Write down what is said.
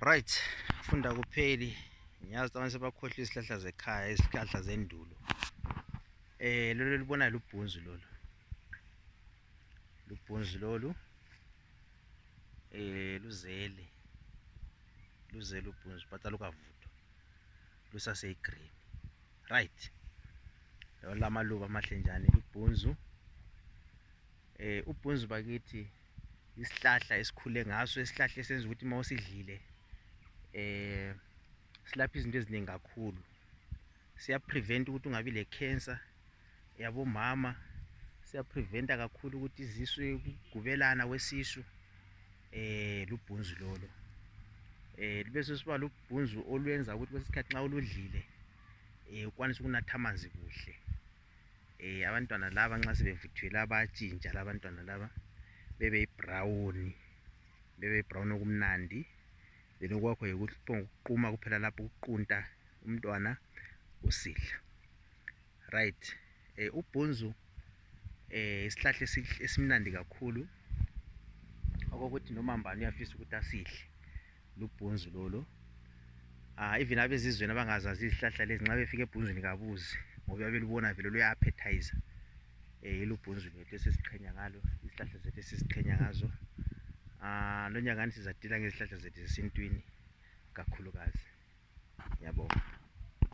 right funda kupheli ngiyazi abantu sebakhohlwa izihlahla zekhaya izihlahla zendulo eh lolu libona lubhunzu lolu lubhunzu lolu eh luzele luzele ubhunzu but alukavuthwa lusaseyigreen right lamaluba amahle njani lubhunzu Eh ubhunzu bakithi isihlahla esikhule ngaso isihlahla esenza ukuthi uma usidlile eh silapha izinto eziningi kakhulu siyaprevent ukuthi ungabi le-cancer yabomama siyapreventa kakhulu ukuthi izisu ukugubelana kwesisu eh lubhunzu lolo eh libe sesiba lubhunzu olwenza ukuthi kwesikhathi nxa uludlile eh ukwanise ukunatha amanzi kuhle Eh abantwana laba nxa sebevuthiwe laba bayatshintsha laba abantwana laba bebe brown bebe brown okumnandi then okwakho yikuphonguquma kuphela lapho ukuqunta umntwana usidla right eh ubhunzu eh isihlahla esimnandi kakhulu okokuthi noma mbani uyafisa ukuthi asidle. lubhunzu lolo uh, even abezizweni abangazazi izihlahla lezi nxa befika ebhunzwini kabuzi ngoba babelubona vele luya-appetizer um eh, ilubhunzu lwethu esesiqhenya ngalo izihlahla zethu esesiqhenya ngazo um lo nyakani sizadila ngezihlahla zethu zesintwini kakhulukazi yabonga